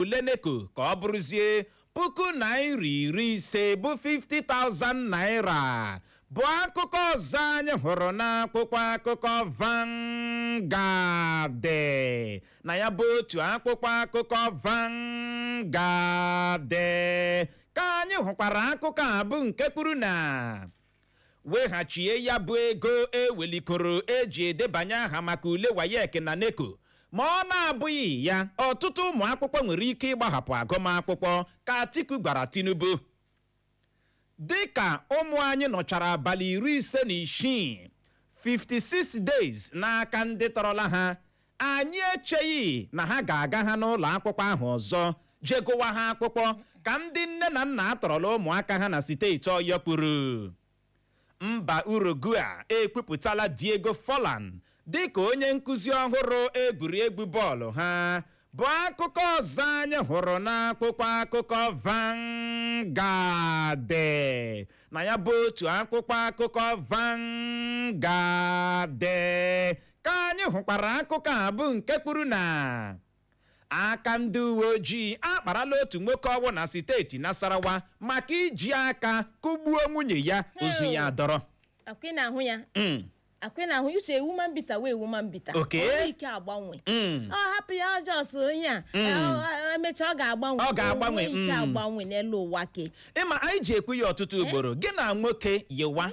Ule NECO ka ọ bụrụzie puku naira iri ise bụ 50,000 naira bụ akụkọ ọzọ anyị hụrụ n'akwụkwọ akụkọ Vanguard na ya bụ otu akwụkwọ akụkọ Vanguard ka anyị hụkwara akụkọ a bụ nke kwuru na weghachie ya bụ ego ewelikoro e ji edebanye aha maka ule WAEC na NECO ma ọ na-abụghị ya ọtụtụ ụmụ akwụkwọ nwere ike ịgbahapụ agụmakwụkwọ ka Atiku gwara Tinubu dịka ụmụ anyị nọchara abalị iri ise na isii 56 days n'aka ndị tọrọla ha Anyị echeghị na ha ga-aga ha n'ụlọ akwụkwọ ahụ ọzọ je gụwa ha akwụkwọ, ka ndị nne na nna a tọrọla ụmụaka ha na steeti Ọyọ kwuru. Mba Uruguay ekwupụtala Diego Forlan dịka onye nkuzi ọhụrụ egwuregwu bọọlụ ha, bụ akụkọ ọzọ anyị hụrụ n'akwụkwọ akụkọ Vanguard. Na ya bụ otu akwụkwọ akụkọ Vanguard ka anyị hụkwara akụkọ a bụ nke kwuru na aka ndị uwe ojii akparala otu nwoke ọ wụ na steeti Nasarawa maka iji aka kụgbuo nwunye ya ozu ya dọrọ akwa ị na-ahụ ya Mm, akwa ị na-ahụ Uche a woman beater wụ a woman beater Okay. O nwee ike agbanwe mm. ọ hapụ ya ọjọọ so onye a Mm. ọ- ọ- emechaa ọ ga-agbanwe Ọ ga-agbanwe, O nwee ike mm. agbanwe n'elu ụwa ke ị ma anyị ji ekwu ya ọtụtụ ugboro gị na nwoke yiwa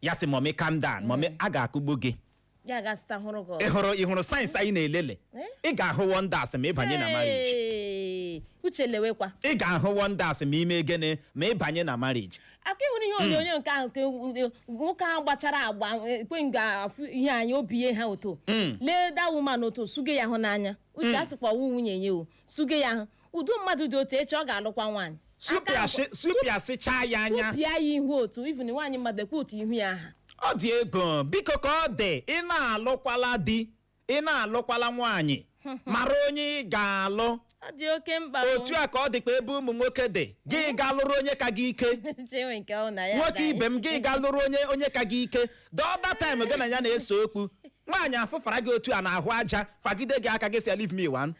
ya sị mummy calm down mummy a ga-akụgbu gị ya gasịta hụrụ gị ị ọzọ. hụrụ ị hụrụ signs anyị na-elele Eh? ị ga-ahụ wonders ma ị banye na marriage Hey! Uche lewekwa ị ga-ahụ wonders ma i mee gịnị ma ị banye na marriage akwa ị hụrụ ihe onyonyo nke ahụ ka nwoke ahụ gbachara agba ekwe nga afụ ihe anyị obi ihe ha oto lee da woman otu suge ya hụ n'anya Uche a sịkwa wụ nwunye ya o suge ya ahụ udo mmadụ dị otu echi ọ ga-alụkwa nwaanyị Aka nkwa- Supịasị- supịasịchaa ya anya tụpịa ya ihu otu even nwaanyị mmadụ ekwe otu ihu ya aha ọ dị egwu biko ka ọ dị ị na-alụkwala di ị na-alụkwala nwaanyị mara onye ị ga-alụ ọ dị oke mkpa o. otu a ka ọ dịkwa ebe ụmụ nwoke dị gị gaa lụrụ onye ka gị ike Chinwe nke ọ na ya nwoke agaghị. ibe m gị gaa lụrụ onye onye ka gị ike the other time gị na ya na-ese okwu nwaanyị afụfara gị otu a na-ahụ aja fagide gị aka gị sị ya leave me one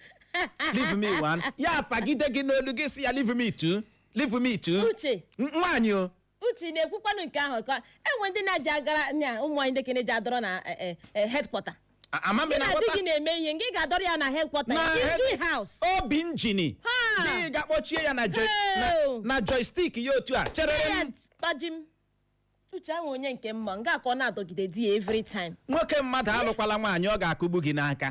leave me one ya fagide gị n'olu gị sị ya leave me two leave me two Uche. N- nwaanyị o Uche na-ekwukwanụ nke ahụ ka e nwe ndị na-eji agara na ụmụ nwaanyị ndị kene ji adọrọ na headquarter A- ama m gị na na di ghọta gị na-eme ihe gị ga-adọrọ ya na headquarter Na ya injin head- house obi injin Ha! gị ga-akpọchie ya na joy- na- Hell! na joystick ya otu a chere m kpajim uche ahụ onye nke mma nga ka ọ na-adọgide di ya every time nwoke mmadụ alụkwala nwaanyị ọ ga-akụgbu gị n'aka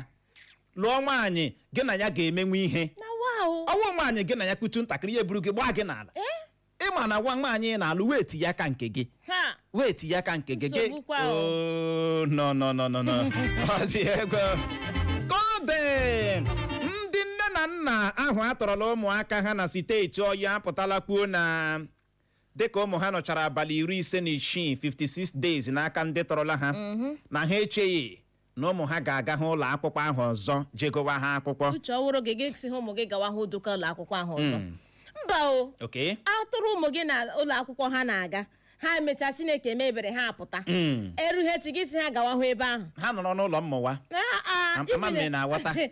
lụọ nwaanyị gị na ya ga-emenwe ihe na wow ọ wụ nwaanyị gị na ya kwutu ntakịrị ya eburu gị gbaa gị n'ala eh ị ma na nwa nwaanyị ị na-alụ weight ya aka nke gị ha weight ya aka nke gị gị Nsogbu kwa o. Oh, no no no no no ọ dị egwu ka ọ dị ndị nne na nna ahụ a tọrọla ụmụaka ha na steeti Ọyọ apụtala kwuo na dịka ụmụ ha nọchara abalị iri ise na isii 56 days n'aka ndị tọrọla ha na ha echeghị na ụmụ ha ga-aga ha ụlọ akwụkwọ ahụ ọzọ je gụwa ha akwụkwọ uche ọ wụrụ gị gị sị ha ụmụ gị gawa hụ duka ụlọ akwụkwọ ahụ ọzọ mba o okay a tọrọ ụmụ gị n'ụlọ akwụkwọ ha na-aga ha emechaa chineke mee ebere ha apụta Mm. erughị echi gị sị ha gawa hụ ebe ahụ ha nọrọ n'ụlọ mmụta Ah, ah, Am- ama m na ị na-aghọta.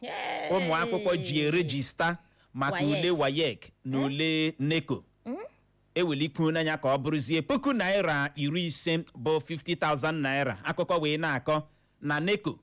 Hey! ụmụ akwụkwọ ji erejista maka WAEC. ule WAEC na ule NECO ewelikwuola ya ka ọ bụrụzie puku naira iri ise bụ 50,000 naira akụkọ wee na-akọ na NECO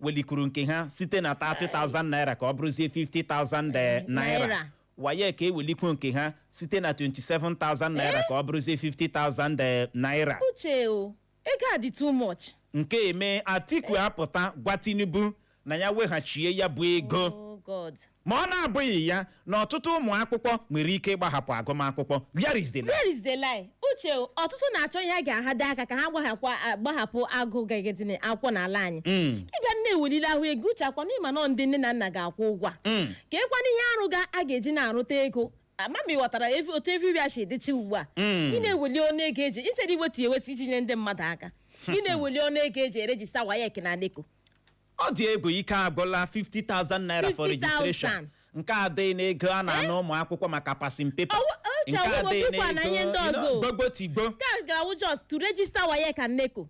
welikwuru nke ha site na 30,000 naira ka ọ bụrụzie 50,000 naira Naira. WAEC ewelikwuo nke ha site na 27,000 naira ka ọ bụrụzie 50,000 naira uche o ego a dị too much nke eme Atiku apụta gwa Tinubu na ya weghachie ya bụ ego oh god ma ọ na-abụghị ya na ọtụtụ ụmụ akwụkwọ nwere ike ịgbahapụ agụmakwụkwọ where is the lie? where is the lie uche o, ọtụtụ na-achọ ihe ha ga-ahada aka ka ha gbahapụ gbahapụ agụ gagedine akwụkwọ n'ala anyị Mm. ị bịa na-ewelile ahụ ego uche ọ kwa na ị ma na ọ ndị nne na nna ga-akwụ ụgwọ a. Mm. kee kwanụ ihe arụ ga a ga-eji na-arụta ego ama m ị ghọtara ev- otu everywhere si dịcha ugbu a Mm. ị na-eweli ọnụ ego e kwesiri iwetu ya ewetu iji nye ndị mmadụ aka ị na-eweli ọnụ ego e ji erejista WAEC na NECO ọ dị egwu ike agwụla 50,000 naira for 50,000. registration nke a dịghị n'ego a na-ana ụmụ akwụkwọ maka passing paper Ọwụ- ọ nke chọrọ adịghị ụgwọ dịkwa na ihe ndị ọzọ. gbogbo tigbo nke a ga-awụ just to register WAEC and NECO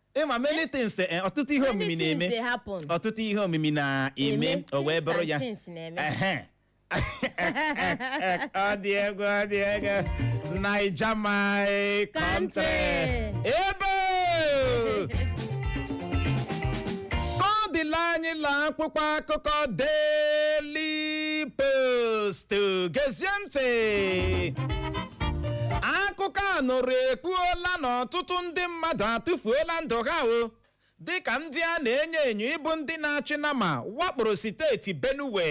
ị ma many things eh, ọtụtụ ihe omimi Many things na-eme dey happen. ọtụtụ ihe omimi na-eme Eme, o wee things bụrụ and ya things na-eme. Ehe. ọ dị egwu ọ dị egwu Naija my country Country. ebe ka ọ dịla anyị laa akwụkwọ akụkọ Daily Post gezie ntị akụkọ a nụrụ ekwuola na ọtụtụ ndị mmadụ atụfuola ndụ ha o dịka ndị a na-enyo enyo ịbụ ndị na-achị nama wakporo steeti Benue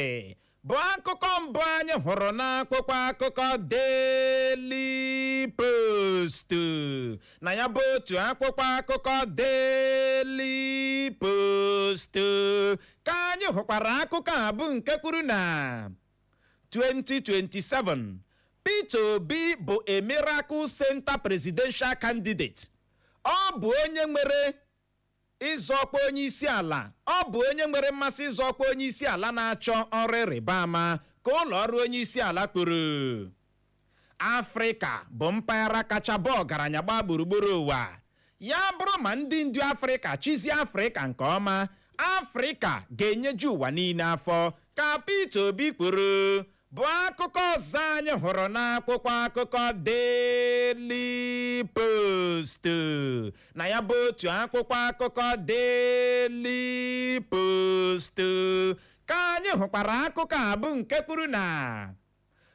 bụ akụkọ mbụ anyị hụrụ n'akwụkwọ akụkọ Daily Post na ya bụ otu akwụkwọ akụkọ Daily Post ka anyị hụkwara akụkọ a bụ nke kwuru na 2027 Peter Obi bụ a miracle center presidential candidate ọ bụ onye nwere ịzọ ọkwa onye isi ala ọ bụ onye nwere mmasị ịzọ ọkwa onye isi ala na-achọ ọrụ ịrịba ama ka ụlọ ọrụ onye isi ala kwuru afrịka bụ mpaghara kacha baa ọgaranya gbaa gburugburu ụwa ya bụrụ ma ndị ndu afrịka chịzie afrịka nke ọma afrịka ga-enyeju ụwa niile afọ ka Peter Obi kwuru bụ akụkọ ọzọ anyị hụrụ n'akwụkwọ akụkọ Daily Post na ya bụ otu akwụkwọ akụkọ Daily Post ka anyị hụkwara akụkọ a bụ nke kwuru na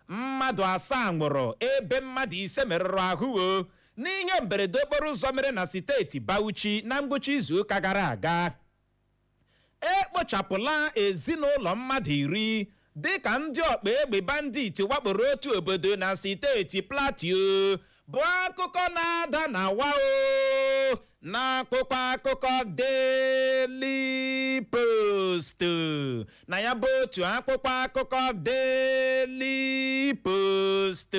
mmadụ asaa nwụrụ ebe mmadụ ise merụrụ ahụ o n'ihe mberede okporo ụzọ mere na steeti Bauchi na ngwụcha izuụka gara aga ekpochapụla ezinụlọ mmadụ iri dịka ndị ọkpa egbe bandit wakporo otu obodo na steeti Plateau bụ akụkọ na-ada na wa o n'akwụkwọ akụkọ Daily Post na ya bụ otu akwụkwọ akụkọ Daily Post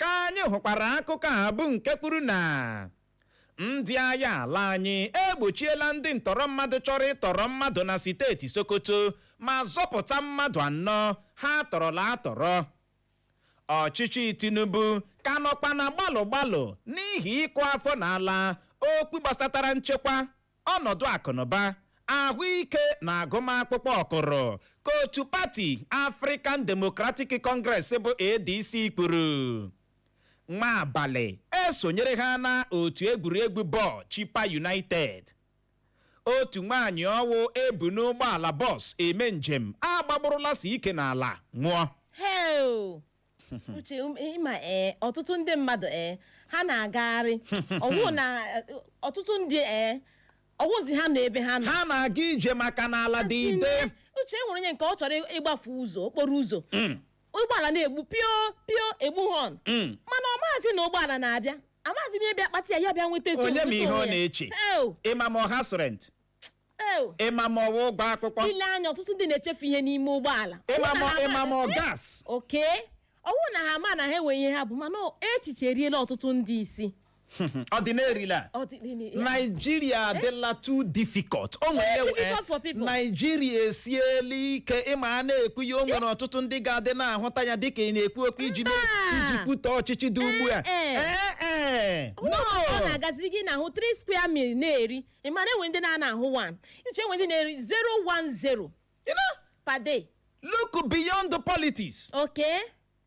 ka anyị hụkwara akụkọ a bụ nke kwuru na ndị agha ala anyị egbochiela ndị ntọrọ mmadụ chọrọ ịtọrọ mmadụ na steeti Sokoto ma zọpụta mmadụ anọ ha tọrọla atọrọ ọchịchị tinubu ka nọkwa na gbalụ gbalụ n'ihi ịkụ afọ n'ala okwu gbasatara nchekwa ọnọdụ akụnụba ahụike na agụmakwụkwọ ọ kụrụ ka otu pati african democratic congress bụ adc kwuru Nwabali esonyere ha na otu egwuregwu bọọlụ Chippa united otu nwaanyị ọ wụ e bu n'ụgbọala bọs eme njem agbagburụla si ike n'ala nwụọ heo uche um, ịma ee ọtụtụ ndị mmadụ ee ha na-agagharị ọ wụ na eh, ọtụtụ ndị ee ọ wụzi ha nọ ebe ha nọ ha na-aga ije maka na ala dị ide uche e nwere onye nke ọ chọrọ ịgbafe ụzọ okporo ụzọ ụgbọala na-egbu pio pio egbu họn Mm. mana ọ maazị na ụgbọala na-abịa amaghịzi m ihe bịa kpata ya ya bịa nweta etu onye ma nweta ihe ọ onwe ya. na-eche Ew, ịma ma ọ house rent ew. ịma ma ọ wụ ụgwọ akwụkwọ i lee anya ọtụtụ ndị na-echefu ihe n'ime ụgbọala ịma ma ịma ma ọ gas okay ọ wụ na ha ma na ha nwere ihe ha bu mana echiche eriela ọtụtụ ndị isi ọ dị narịla Ọ dị- dị- dị- naijiria adịla too difficult o nwere Too difficult for people. naijiria esiela ike ị ma a na-ekwu ya o nwere ọtụtụ ndị ga-adị na-ahụta ya dịka ị na-ekwu okwu iji mee- Mba. iji kwutọ ọchịchị dị ugbu a Eh, eh. Eh, eh. ọ nọ na-agaziri gị na-ahụ 3 square meal na-eri ị ma na e nwe ndị na-ana ahụ 1 iche e nwe ndị na-eri 010 You know, per day look beyond the politics okay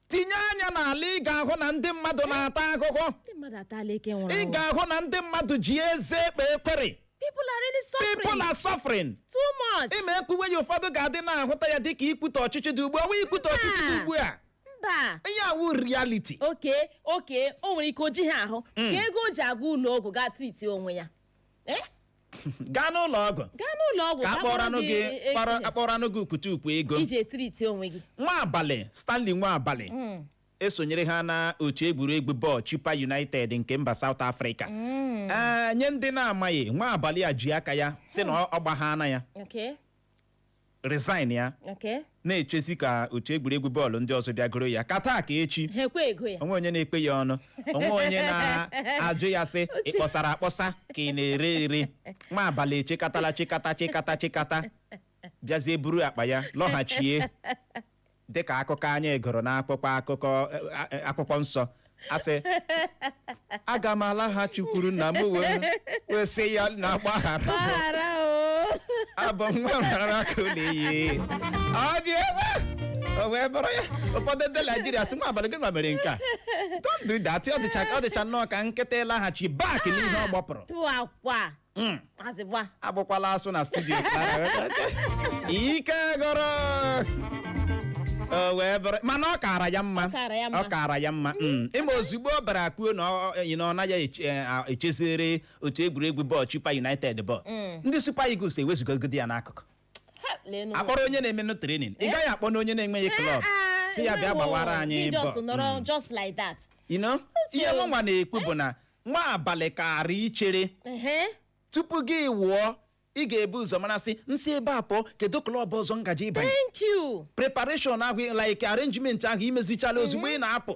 tinye anya n'ala ị ga-ahụ na ndị mmadụ na-ata ahụhụ ndị mmadụ atala ike nwụrụ anwụ. ị ga-ahụ na ndị mmadụ ji eze ekpe ekwere people are really suffering people are suffering too much ị ma ekwuwe ya ụfọdụ ga-adị na-ahụta ya dịka ikwutọ ọchịchị dị ugbu a ọ wụghị ikwutọ ọchịchị dị ugbu a mba ihe a wụ reality okay okay o nwere ike o jighị ahụ ka ego o ji aga ụlọ ọgwụ gaa triti onwe ya Eh? gaa n'ụlọ ọgwụ gaa n'ụlọ ọgwụ ka a kpọọrọnụ gị e- kpọrọ e- a kpọọrọnụ gị ukwutu ukwu ego iji etriti onwe gị Nwabali Stanley Nwabali esonyere ha na otu egwuregwu bọọlụ Chippa United nke mba South Africa Ee, nye ndị na-amaghị Nwabali a ji aka ya sị na ọ gbaghaana ya Okay. resign ya Okay. na-echezi ka otu egwuregwu bọọlụ ndị ọzọ bịa goro ya ka taa ka echi Ha ekwe ego ya. o nweghị onye na-ekwe ya ọnụ o nweghị onye na-ajụ ya sị ị kpọsara akpọsa ka ị na-ere ere Nwabali echekatala chekata chekata chekata bịazie buru akpa ya lọghachie dị ka akụkọ anyị gụrụ n'akwụkwọ akụkọ a- a- akwụkwọ nsọ ọ sị aga m alaghachikwuru nna m wee wee sị ya nna gbaghara m. gbaghara o abụ m nwa mara aka ụlọ iyi ọ dị ebe a. o wee bụrụ ya ụfọdụ ndị naijiria sị Nwabali gị nwa mere nke a don't do that ọ dịcha ọ dịcha nnọọ ka nkịta ịlaghachi back n'ihe ọ gbọpụrụ tufiakwa Mm, azịgba agbụkwala asụ na studio ike gwụrụ o wee bụrụ mana ọ kaara ya mma Ọ kaara ya mma. ọ kaara ya mma mm. ị ma ozugbo ọ bịara kwuo na ọ- ọ- na ọ naghị eche- eh, ah, echeziri otu egwuregwu bọọlụ Chippa United bọọlụ ndị Super Eagles ewezugogide ya n'akụkụ Ha, leenụ nwa. a kpọrọ onye na-emenụ trenin ị gaghị akpọnụ onye na-enweghị klọb Ah, sị ya bịa ewo, gbawara anyị gị just bọ- nọrọ just like that You know? ihe mụ nwa na-ekwu bụ na Nwabali kaara ichere Ehe. tupu gị wụọ ị ga-ebu ụzọ mara sị m si ebe a pụọ kedu klọb ọzọ m ga-eje ịbanye thank you preparation ahụ like arrangement ahụ i mezichaala ozugbo ị na-apụ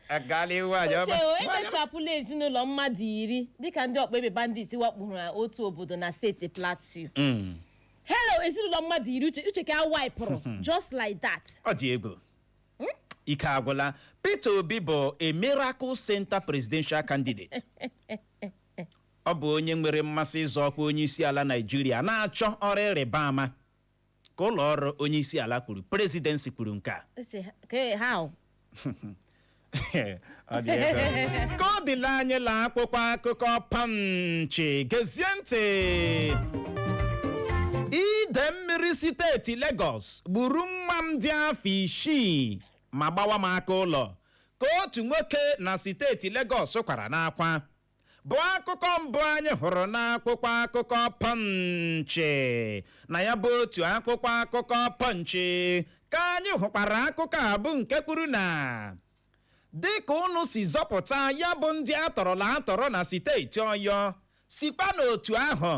agala iwu aja uche o ehichapụla ezinụlọ mmadụ iri dịka ndị ọkpa egbe bandit wakporo na otu obodo na steeti plateau Mm, hei ezinụlọ mmadụ iri uche uche ka a waipụrụ just like that ọ dị egwu ike agwụla peter obi bụ a miracle center presidential candidate ọ bụ onye nwere mmasị ịzọ ọkwa onye isi ala naijiria na-achọ ọrụ ịrịba ama ka ụlọ ọrụ onye isi ala kwuru presidency kwuru nke a Uche, ke- how? Ọ dị ebe. ka ọ dịla anyị la akwụkwọ akụkọ Punch gezie ntị ide mmiri steeti Lagos gburu nwa m dị afọ isii ma gbawa m aka ụlọ ka otu nwoke na steeti Lagos kwara n'akwa bụ akụkọ mbụ anyị hụrụ n'akwụkwọ akụkọ Punch na ya bụ otu akwụkwọ akụkọ Punch ka anyị hụkwara akụkọ a bụ nke kwuru na dịka unu si zọpụta ya bụ ndị atọrọla atọrọ na steeti Ọyọ sikwa n'otu ahụ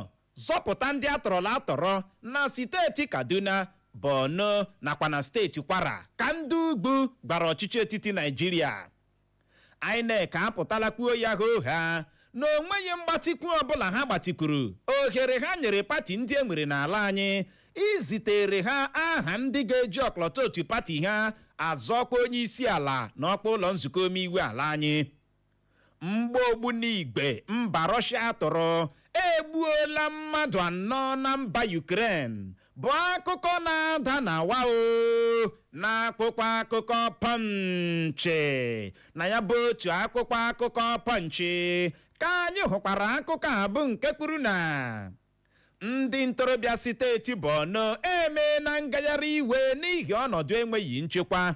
zọpụta ndị atọrọla atọrọ na steeti Kaduna Borno nakwa na steeti Kwara ka ndị ugwu gwara ọchịchị etiti Naịjirịa INEC apụtala kwuo ya hoo haa na o nweghị mgbatịkwu ọbụla ha gbatịkwuru ohere ha nyere pati ndị e nwere n'ala anyị izitere ha aha ndị ga-eji ọkọlọtọ otu pati ha azọ ọkwa onye isi ala na ọkwa ụlọ nzukọ omeiwu ala anyị mgbọ ogbunigwe mba Rọshịa tụrụ egbuola mmadụ anọ na mba Ukraine bụ akụkọ na-ada na wa o na akwụkwọ akụkọ Punch na ya bụ otu akwụkwọ akụkọ Punch ka anyị hụkwara akụkọ a bụ nke kwuru na ndị ntorobịa steeti Borno emeena ngagharị iwe n'ihi ọnọdụ enweghị nchekwa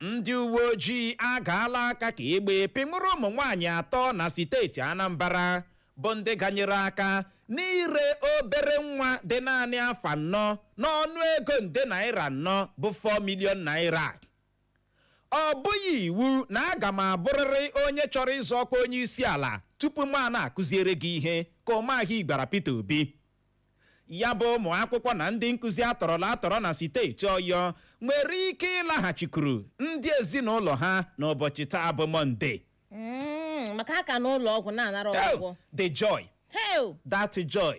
ndị uwe ojii agaala aka ka egbe pịnwụrụ ụmụ nwaanyị atọ na steeti Anambra bụ ndị ganyere aka n'ire obere nwa dị naanị afọ anọ n'ọnụ ego nde naira anọ bụ 4 million naira ọ bụghị iwu na aga m abụrịrị onye chọrọ ịzọ ọkwa onye isi ala tupu mụ ana-akụziere gị ihe ka Umahi gwara Peter Obi ya bụ ụmụ akwụkwọ na ndị nkuzi atọrọla atọrọ na steeti Ọyọ nwere ike ịlaghachikuru ndị ezinụlọ ha n'ụbọchị taa bụ Mọnde Mm, maka ha ka nọ ụlọ ọgwụ na-anara ọgwụgwọ the joy hel that joy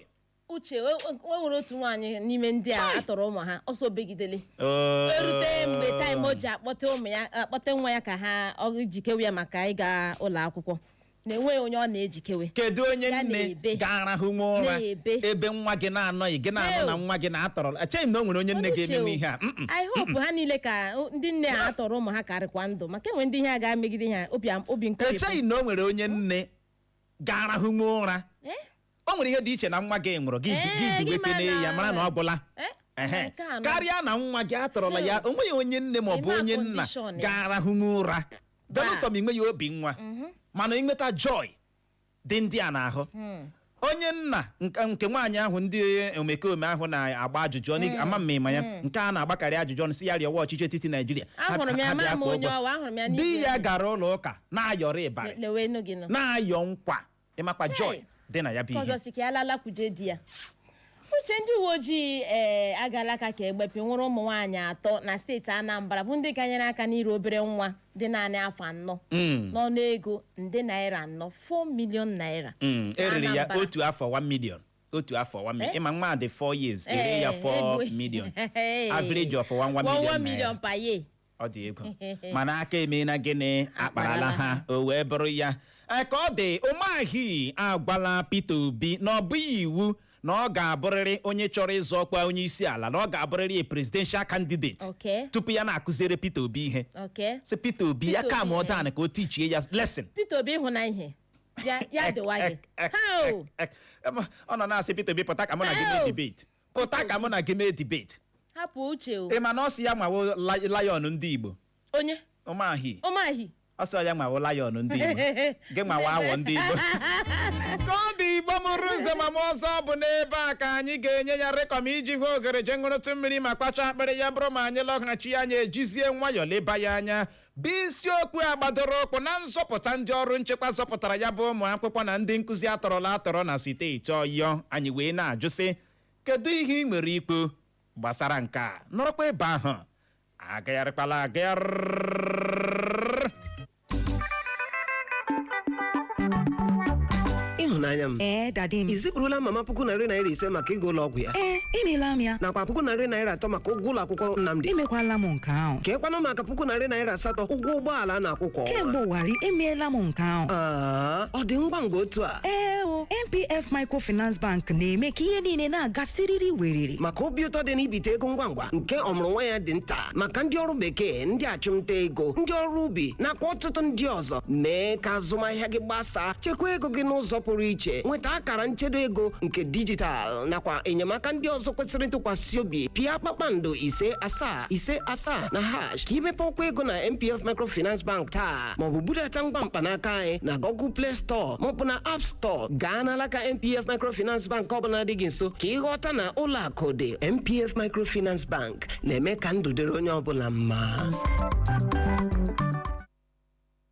Uche o o nwere otu nwaanyị n'ime ndị a a tọrọ ụmụ ha ọ sị o begidele Oh. erute mgbe time o ji akpọte ụmụ ya akpọte nwa ya ka ha ọ jikewe ya maka ịga ụlọ akwụkwọ na enweghị onye ọ na-ejikewe kedu onye Ya nne na-ebe. ga-arahụ nwa ụra Na-ebe. ebe nwa gị na-anọghị gị na-anọ Ew. na nwa gị na-atọrọ echeghị m na o nwere onye nne Unu ga-emenwu chewo. ihe a Mm-mm. I hope ha niile ka ndị nne a a tọrọ ụmụ ha ka rịkwa ndụ maka e nwe ndị ihe a ga-emegide ha obi am- obi nkoropụ echeghị na o nwere onye nne ga-arahụ nwa ụra Eh? o nwere ihe dị iche na nwa gị nwụrụ gị Ee, gị gị diwekene mana- ya mara na ọ gwụla Eh? Ehe. Nke a nọ. karịa na nwa gị atọrọla ya o nweghị onye nne ma ọ bụ Ịma onye nna condition ya. ga-arahụnwu ụra belụsọ ma i nweghị obi nwa mana i nweta joy dị ndị a n'ahụ onye nna nke nke nwaanyị ahụ ndị omekome ahụ na-agba ajụjụ ọnụ ị- ama m ma ịma ya nke a na-agbakarị ajụjụ ọnụ sị ya rịọwa ọchịchị etiti naijiria Ha- Ahụrụ m ya, ha bịa ama m kwụọ onye ụgwọ. ọwa, ahụrụ m ya di n'igwe. ya gara ụlọ ụka na-ayọrọ ịbarị lewe enu gị nọ na-ayọ nkwa ịmakwa Chai. joy dị na ya bụ ihe ọzọ sị ka ya lalakwuje di ya uche ndị uwe ojii ee agala aka ka egbepe nwụrụ ụmụ nwaanyị atọ na steeti anambra bụ ndị ganyere aka n'ire obere nwa dị naanị afọ anọ Mm, n'ọnụ ego nde naira anọ 4 million naira mm, e rere ya Anambra. otu afọ 1 million otu afọ 1 million Eh? ị ma nwa dị 4 years e ree ya Eh, 4 ego- million Eh, average of 1 1 One- one million million naira. per year ọ dị egwu mana aka emeela gịnị akparala ha o wee bụrụ ya Ee, ka ọ dị Umahi agwala Peter Obi na ọ bụghị iwu na ọ ga-abụrịrị onye chọrọ ịzọ ọkwa onye isi ala na ọ ga-abụrịrị a presidential candidate Okay. tupu ya na-akụziere Peter Obi ihe Okay. sị Peter Obi ya Peter calm Obi, eh. down ka o teachie ya lesson Peter Obi hụ na ihe ya ya dịwa gị Ek, ek, ha o ek, ek. Em, ọ nọ na-asị Peter Obi pụta ka mụ na gị Ew. mee debate pụta ka mụ na gị mee debate hapụ uche o ị ma na ọ sị ya nwa wụ li- lion ndị igbo onye Umahi Umahi ọ sị ya nwa wụ lion ndị igbo gị nwa wụ awọ ndị igbo ka ọ dị igbo mụrụ nze mụọ ọzọ bụ n'ebe a ka anyị ga-enye ya rekọm iji hụ oghere je ṅụrụtụ mmiri ma kwachaa akpịrị ya bụrụ ma anyị lọghachi anyị ejizie nwayọọ leba ya anya bụ isiokwu a gbadoro ụkwụ na nzọpụta ndị ọrụ nchekwa zọpụtara ya bụ ụmụ akwụkwọ na ndị nkụzi atọrọla atọrọ na steeti ọyọ anyị wee na-ajụ sị kedu ihe ị nwere ikwu gbasara nke a nọrọkwa ebe ahụ agagharịkwala agagharị ịhụnanya m Ee, dadi m. i zipụrụla mama puku narị naira ise maka ịga ụlọ ọgwụ ya Ee, emeela m ya. nakwa puku narị naira atọ maka ụgwọ ụlọ akwụkwọ Nnamdi Emekwala m nke ahụ. keekwanụ maka puku narị naira asatọ ụgwọ ụgbọala a na-akwụ kwa ọnwa kemgbe ụwarị emeela m nke ahụ Aa, ọ dị ngwa ngwa otu a ee o NPF microfinance bank na-eme ka ihe niile na-aga siriri weriri maka obi ụtọ dị n'ibite ego ngwa ngwa nke ọmụrụ nwa ya dị nta maka ndị ọrụ bekee ndị achụmnta ego ndị ọrụ ubi nakwa ọtụtụ ndị ọzọ mee ka azụmahịa gị gbasaa chekwa ego gị n'ụzọ pụrụ iche nweta akara nchedo ego nke dijitalụ nakwa enyemaka ndị ọzọ kwesịrị ntụkwasị obi pịa kpakpando ise asaa ise asaa na hash ka i mepee ọkwa ego na NPF microfinance bank taa maọbụ budata ngwa mkpanaka anyị na google play store maọbụ na app store gaa n'alaka NPF microfinance bank ọbụla dị gị nso ka ị ghọta na ụlọ akụ dị NPF microfinance bank na-eme ka ndụ dịrị onye ọbụla mma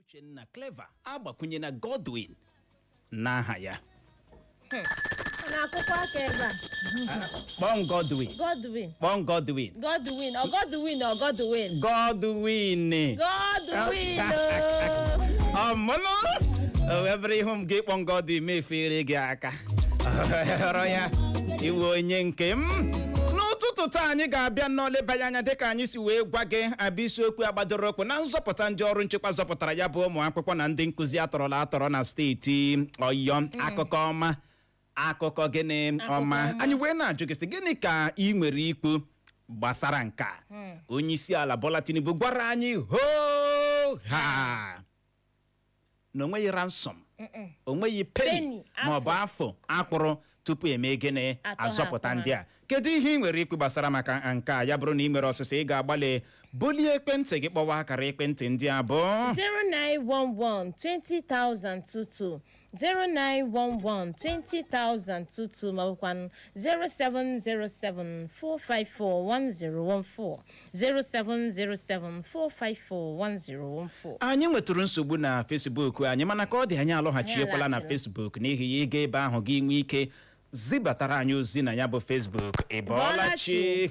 Uchenna Clever agbakwunyena Godwin n'aha ya n'akwụkwọ aka ebe a kpọm Godwin Godwin kpọm Godwin Godwin ọ Godwin ọ Godwin Godwin Godwin oo. ọmụnụ o wee bụrụ ihu m gị kpọm Godwin mefere gị aka ọ wụrụ ya iwe onye nke m n'ụtụtụ taa anyị ga-abịa na-elebanye anya dịka anyị si wee gwa gị a bịa isiokwu a gbadoro ụkwụ na nzọpụta ndị ọrụ nchekwa zọpụtara ya bụ ụmụ akwụkwọ na ndị nkụzi atọrọla atọrọ na steeti Ọyọ akụkọ ọma akụkọ gịnị ọma anyị wee na-ajụ gị sị gịnị ka i nwere ikwu gbasara nke a onye isi ala Bola Tinubu gwara anyị hoo ha na o nweghị ransom o nweghị peni Penny, afọ. ma ọ bụ afọ a kwụrụ tupu e mee gịnị Atọhapụ azọpụta ha. ndị a kedu ihe i nwere ikwu gbasara maka nke a ya bụrụ na i nwere ọsịsa ị ga-agbalị bulie ekwentị gị kpọwa akara ekwentị ndị a bụ 0911 20000 22 0911 20000 22 ma ọ bụkwanụ 0707 454 1014 07074541014 anyị nwetụrụ nsogbu na Facebook anyị mana ka ọ dị anyị alọghachiekwala na Anyị alaghachila. Facebook n'ihi ya ị gaa ebe ahụ gị nwee ike zibatara anyị ozi na ya bụ Facebook ị bọọla chi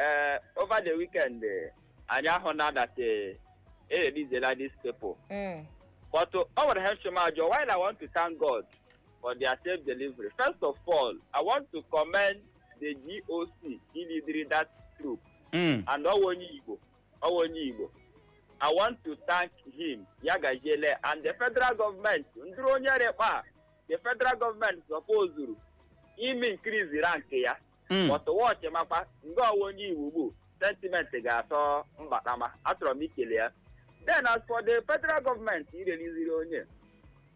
ee over the weekend eh, anyị ahụna that eh, e releasela these people Mm. but uh, o nwere ihe m chọ m ajụ while i want to thank god for their safe delivery first of all i want to commend the GOC lidiri that troop Mm. and ọ wụ onye Igbo ọ wụ onye Igbo i want to thank him ya gajiele and the federal government ndịrị onye rekpa the federal government sọpozuru ime increase rank ya Mm. but watch makwa nga ọ wụ onye Igbo ugbu sentiment ga-achọ mbata ma achọrọ m ikele ya then as for the federal government ireliziri onye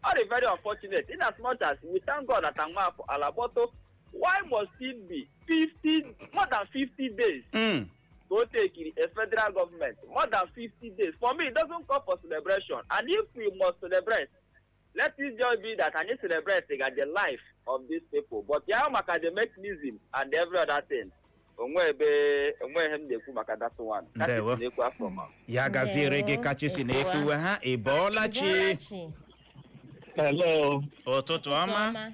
ọ dị very unfortunate in as much as we thank god that amafọ ala kpọtụ why must it be 50 more than 50 days Mm. ka o tekiri a federal government more than 50 days for me it doesn't call for celebration and if we must celebrate let it just be that anyị celebratega the life of these people but ya maka the mechanism and every other thing o nwe ebe o nwe ihe m na-ekwu maka that one Ka sị Ndewo. na-ekwu afọ ma ya gaziere gị Ndewo. Kachi si na-ekwuwe ha ị bọọla chi Bọọla chi. Hello, ụtụtụ ọma Ọma.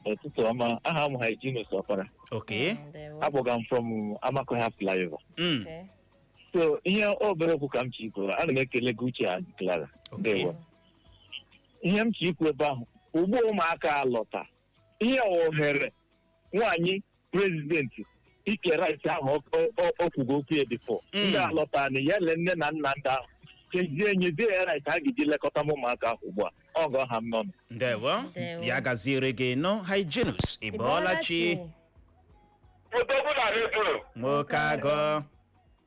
ụtụtụ ọma. Aha m Hyginus Ọkpara. Okay Ndewo. Akpọga m from Amakohia Flyover. Mm, Okay. So ihe obere okwu ka m chọ ikwuru. Ana m ekele gị Uche and Clara. Okay Ndewo. ihe m chọ ikwu ebe ahụ ugbu ụmụaka alọta ihe ohere nwaanyị prezidenti ike rice ahụ ọ- ọ- ọ- ọ kwugo okwu ya before Mm. ndị alọta na ya le nne na nna ndị ahụ kezie nyezie ya rice a ga-eji lekọta m ụmụaka ahụ ugbu a ọ gọ ha m nọ ndewo Ndewo. ya gaziere gị nọ Hyginus ị bọọla chi odogwu na redio nwoke agụ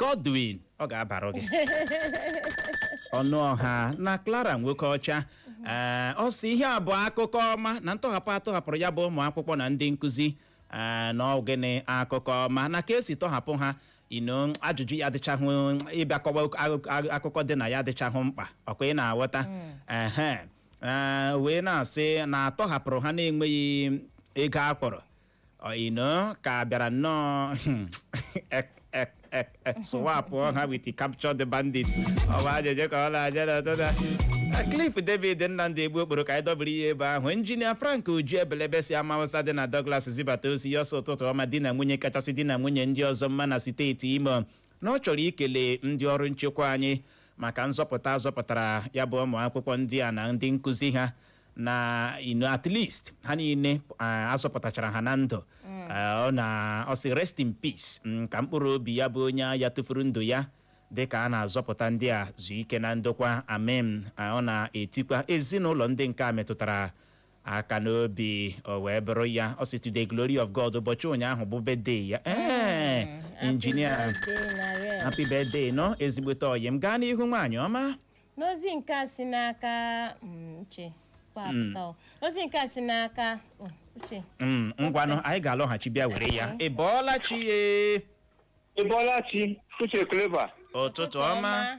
Godwin ọ ga-abara gị Ọnụọha na Clara Nwokeọcha ee ọ sị ihe a bụ akụkọ ọma na ntọhapụ atọhapụrụ ya bụ ụmụ akwụkwọ na ndị nkụzi ee na ọgịnị akụkọ ọma na ka esi tọhapụ ha you know ajụjụ ya adịchahụ ịbịa kọwa akụkọ- akụkọ dị na ya adịchahụ mkpa ọkwa ị na-aghọta ehe ee, wee na-asị na atọhapụrụ ha na-enweghị ego a kwụrụ you know ka bịara nnọọ ek ek ek ek swapụ ha with captured bandit ọ wụ ajụjụ ka ọ na-ajụ n'ụtụtụ a Cliff David Nnamdi Egbu Okporo ka anyị dobiri ya ebe ahụ injinia Frank Uju Ebelebe si ama Hausa dị na Douglas zibata ozi ya ọ sị ụtụtụ ọma di na nwunye kachasị di na nwunye ndị ọzọ mma na steeti Imo na ọ chọrọ ikele ndị ọrụ nchekwa anyị maka nzọpụta a zọpụtara ya bụ ụmụ akwụkwọ ndị a na ndị nkụzi ha na you know at least ha niile ah, azọpụtachara ha na ndụ Ah, ọ na ọ sị rest in peace mm, ka mkpụrụ obi ya bụ onye agha tụfuru ndụ ya dịka a na-azọpụta ndị a zuo ike na ndokwa amen Ah, ọ na-etikwa ezinụlọ ndị nke a metụtara aka n'obi o wee bụrụ ya ọ sị to the glory of God ụbọchị ụnyaahụ bụ birthday ya ee injinia happy birthday nọ ezigbote ọyị m gaa n'ihu nwaanyị ọma n'ozi nke a si n'aka mm, uche kpapụta o. ozi nke a si n'aka oh, uche Mm, ngwanụ anyị ga-alọghachi bịa were ya ị bọọla chi ye Ịbọlachi Uche Clever ụtụtụ ọma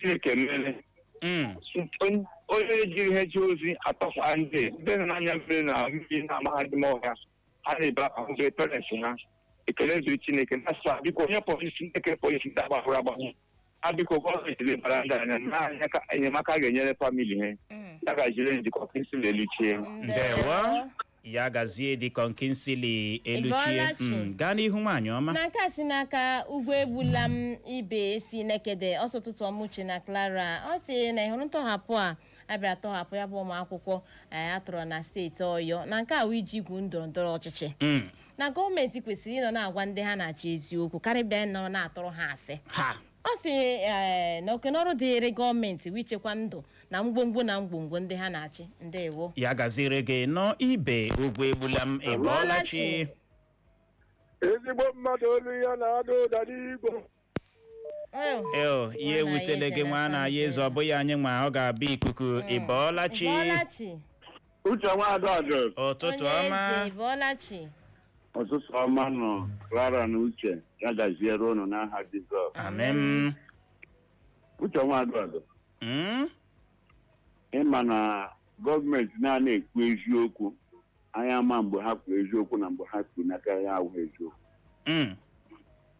Chineke mere Mm. Onye- onye jiri ihe ji ozi atọkwa ndị ndị nọ n'anya mmiri na mmiri na mahadum ọha ha na-ebe ahụbe parents ha ekele dịrị chineke na sa biko onye polisi ndị kere polisi ndị agbahụrụ agbahụ ha biko gọọmenti lebara ndị anya na anya ka enyemaka ga-enyere family ha Mm. ya gaziere Deacon Kingsley Eluchie Ndewo. ya gazie Deacon Kingsley Eluchie Ịbọọlachi. Mm, gaa n'ihu nwaanyị ọma na nke a si n'aka Ugwu Egbulam Ibe si Nekede ọ sị ụtụtụ ọma Uche na Clara ọ sị na ị hụrụ ntọhapụ a a bịara tọhapụ ya bụ ụmụ akwụkwọ eh, a tọrọ na steeti Ọyọ na nke a wụ iji igwu ndọrọ ndọrọ ọchịchị Mm, na gọọmenti kwesịrị ịnọ na-agwa ndị ha na-achị eziokwu karịa ịbịa nọrọ na-atụrụ ha asị ha ọ sị ee na oke n'ọrụ dịịrị gọọmenti bụ ichekwa ndụ na ngwongwo na ngwongwo ndị ha na-achị ndewo ya gaziere gị nnọọ ibe ugwuegbulam ịbọọla chi ezigbo mmadụ olu ya na-ada ụda n'igbo Eh, eo ya ewutele gị nwanna anyị eze ọ bụghị anyị nwa ọ ga-abụ ikuku ịbọọla chi Bọlachi, uche nwaada ọjọọ ụtụtụ onye ọma eze Bọlachi. ụtụtụ ọma nụ Clara na Uche ya gaziere ụnụ n'aha Jizọs amem Uche Nwaduado Mm? ị ma na gọọmenti anaa ekwu eziokwu anyị amaa mgbe ha kwuru eziokwu na mgbe ha kwuru nke ya awụghị eziokwu Mm.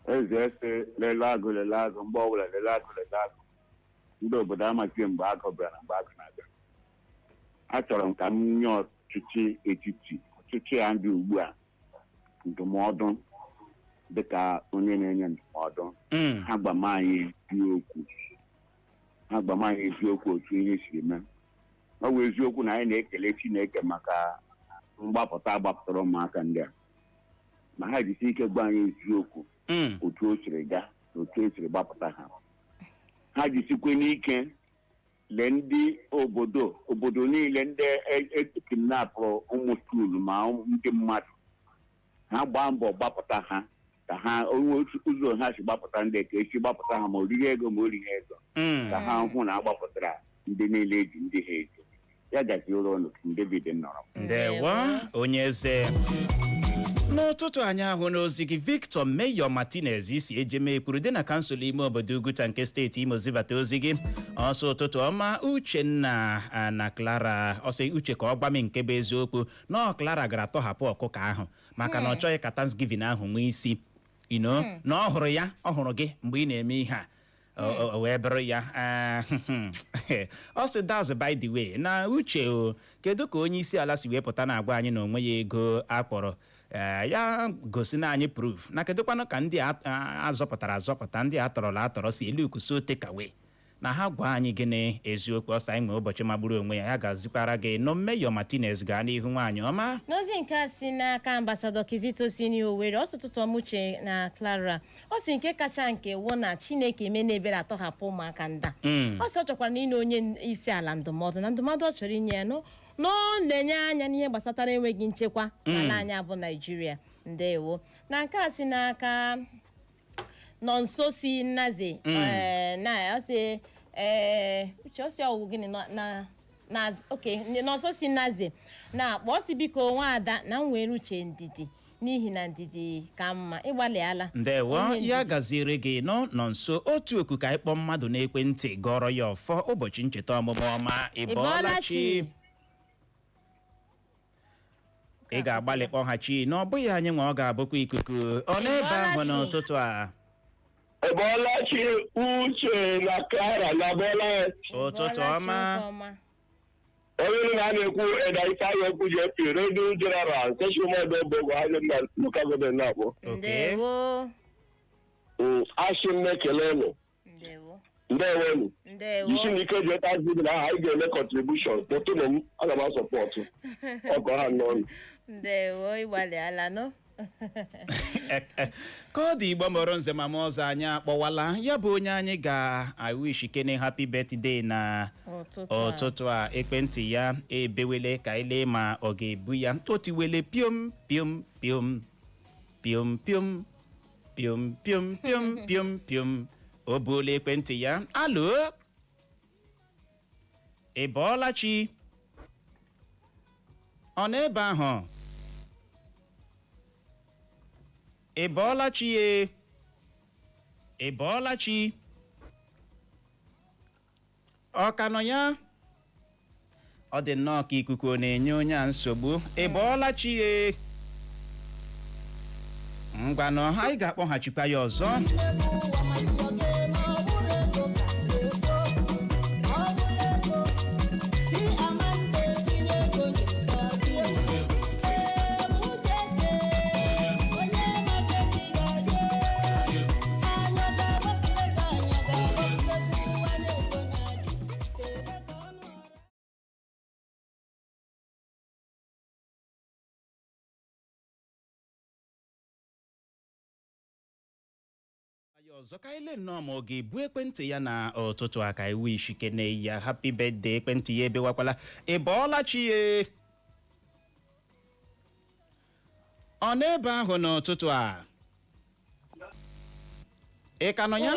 eze a sị lele agụ lele agụ mgbe ọbụla lele agụ lele agụ ndị obodo amaghị mgbe agụ bịara na mgbe agụ na-abịa achọrọ m ka m nye ọt- ọchịchị etiti ọchịchị a dị ugbu a ndụmọdụ dịka onye na-enye ndụmọdụ Mm. ha gwama anyị eziokwu ha gwama anyị eziokwu otu ihe siri mee ọ bụ eziokwu na anyị na-ekele Chineke maka mgbapụta a gbapụtara ụmụaka ndị a ma ha jisi ike gwa anyị eziokwu Mm. otu o siri gaa na otu e siri gbapụta ha ha jisikwe n'ike lee ndị obodo obodo niile ndị e kidnapụrụ ụmụ skuulu ma ụmụ- ndị mmadụ ha gbaa mbọ gbapụta ha ka ha were otu ụzọ ha si gbapụta ndị nke a si gbapụta ha ma o riri ego ma o righị ego Mm. ka ha hụ na a gbapụtara ndị niile e ji ndị ha eji ya gaziere ụnụ King David nọrọ ndewo onye eze n'ụtụtụ anyị ahụna ozi gị victor mayor martinez si ejemekwuru dị na kansụl ime obodo ugwuta nke steeti imo zibata ozi gị ọ sị ụtụtụ ọma uchenna na clara ọ sị uche ka ọ gwa m nke bụ eziokwu na clara gara tọhapụ ọkụkọ ahụ maka na ọ hmm. chọghị ka thanksgiving ahụ nwee isi ino hmm. na ọ hụrụ ya ọ hụrụ gị mgbe ị na-eme ihe a O- o wee buru ya ah, ọ sị that's by the way na uche o kedu ka onye isi ala si wee pụta na-agwa anyị na o nweghị ego a kwụrụ Eh, ya gosinụ anyị proof na kedụkwanụ ka ndị a- a- azọpụtara azọpụta ndị a tọrọ atọrọ si elook so takeaway na ha gwa anyị gịnị eziokwu ọ sị anyị nwee ụbọchị magburu onwe ya ya gazikwaara gị nnọọ mayor martinez gaa n'ihu nwaanyị ọma n'ozi nke a si n'aka ambasadọ kizito si n'owere ọ sị ụtụtụ ọma uche na clara ọ sị nke kacha nke wụ na chineke emeena ebere a tọhapụ ụmụaka ndị a Mm. ọ sị ọ chọkwaranụ inye onye n- isi ala ndụmọdụ na ndụmọdụ ọ chọrọ inye ya wụ na o nenye anya n'ihe gbasatara enweghị nchekwa n'ala anyị a bụ naijiria ndewo na nke a si n'aka nonso si naze Mm. eh, na ọ sị eh, uche ọ sị ọ wụ gịnị nọ- na na oke Nọnso si Naze na-akpọ ọ sị biko nwaada na nwere uche ndidi n'ihi na ndidi ka mma ịgbalịala ndewo Onye ndidi. ya gaziere gị nnọọ Nọnso otu oku ka anyị kpọọ mmadụ n'ekwentị gọrọ ya ọfọ ụbọchị ncheta ọmụmụ ọma Ị bọọla chi? ị ga-agbalị kpọghachi na ọ bụghị anyị nwa ọ ga-abụkwa ikuku ọ n'ebe ahụ n'ụtụtụ a ị bọọla chi Uche na Clara unu abọọla ụtụtụ ọma onye na-ekwu Elder Ifeanyi Okwu ji epi radio general nke Chimaodo Obogo anyị na local government na-akpọ. ndewo Mm, Asị m ekele unu ndewo ndewonụ ndewo isi na ike ji ebe azụ dị na aha anyị ga-eme contribution kpọtụnụ m aga m asọpọtụ ọkọ ha n'ọnụ ndewo ịgbalịala nụ ka ọ dị igbo mụrụ nze mma mma ọzọ anyị akpọwala ya bụ onye anyị ga-awishikene happy birthday na ụtụtụ a ekwentị ya ebewele ka anyị lee ma ọ ga-ebu ya o tiwele piom piom piom piom piom piom piom piom piom piom o buola ekwentị ya alo ị bọọla chi ọ nọ ebe ahụ ị bọọla chi ye ị bọọla chi ọ ka nọ ya ọ dị nnọọ ka ikuku na-enye onye a nsogbu ị bọọla chi ye ngwanụ anyị ga-akpọghachikwa ya ọzọ ya ọzọ ka anyị lee nnọọ ma ọ ga-ebu ekwentị ya na ụtụtụ a ka anyị wishikene ya happy birthday ekwentị ya ebewakwala ị bọọla chi ye ọ n'ebe ahụ n'ụtụtụ a ị ka nọ ya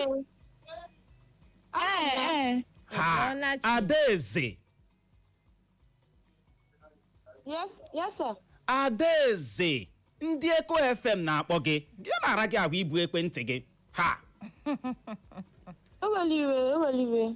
Ee, ee. ha ị bọọla chi. adaeze Yes, yes, sir. adaeze ndị eko fm na-akpọ gị gịnị na-ara gị ahụ ibu ekwentị gị ha Ewela iwe, ewela iwe.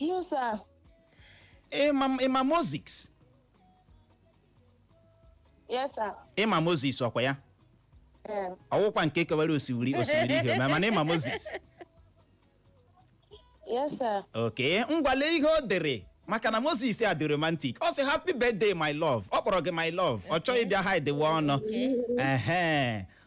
No, sir. ị ma ị ma moses Yes, sir. ị ma moses ọ kwa ya Um, ọ wụkwa nke kewara osimiri osimiri uhie ma mana ị ma moses yes, sir. okay ngwa lee ihe o dere maka na moses a dị romantic ọ sị happy birthday my love ọ kpọrọ gị my love ọ chọghị ịbịa hidewe ọnụ ehe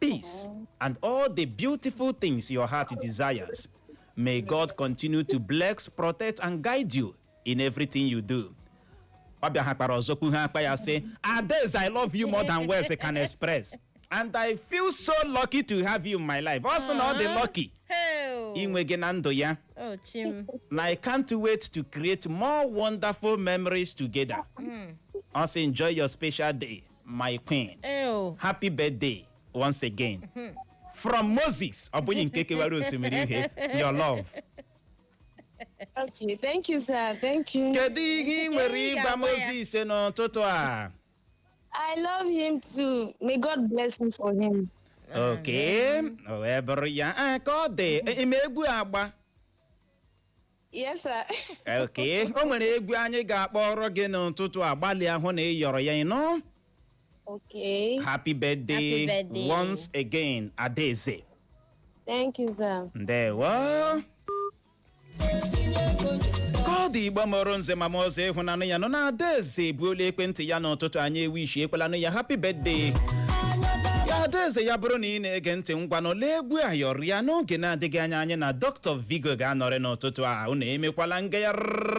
peace, and all the beautiful things your heart desires. May God continue to bless, protect, and guide you in everything you do. ọ bịa ha kpara ọzọ kwu ha akpa ya sị adaeze i love you more than words can express and i feel so lucky to have you in my life ọ sị na ọ dị lucky Heo. inwe gị na ndụ ya Oh, chim. na i can't wait to create more wonderful memories together ọ sị enjoy your special day my queen Ew. happy birthday once again from moses ọ bụghị nke kewara osimiri uhie your love Okay, thank you, sir. Thank you. kedu ihe ị nwere ịgwa moses n'ụtụtụ a I love him too. May God bless me for him. okay o wee bụrụ ya Ah, ka ọ dị ị ma egwu agba Yes, sir. Okay. o nwere egwu anyị ga-akpọrọ gị n'ụtụtụ a gbalịa hụ na ị yọrọ ya ị nụ Okay. happy birthday, Happy birthday. once again adaeze Thank you, sir. ndewo ka ọ dị igbo mụrụ nze mụọ ọzọ ị hụnanụ ya nọ na adaeze ebuola ekwentị ya n'ụtụtụ a anyị ewishiekwelanụ ya happy birthday ya adaeze ya bụrụ na ị na-ege ntị ngwanụ lee egwu a yọrịa n'oge na-adịghị anya anyị na dr vigo ga-anọrị n'ụtụtụ a unu emekwala ngagharị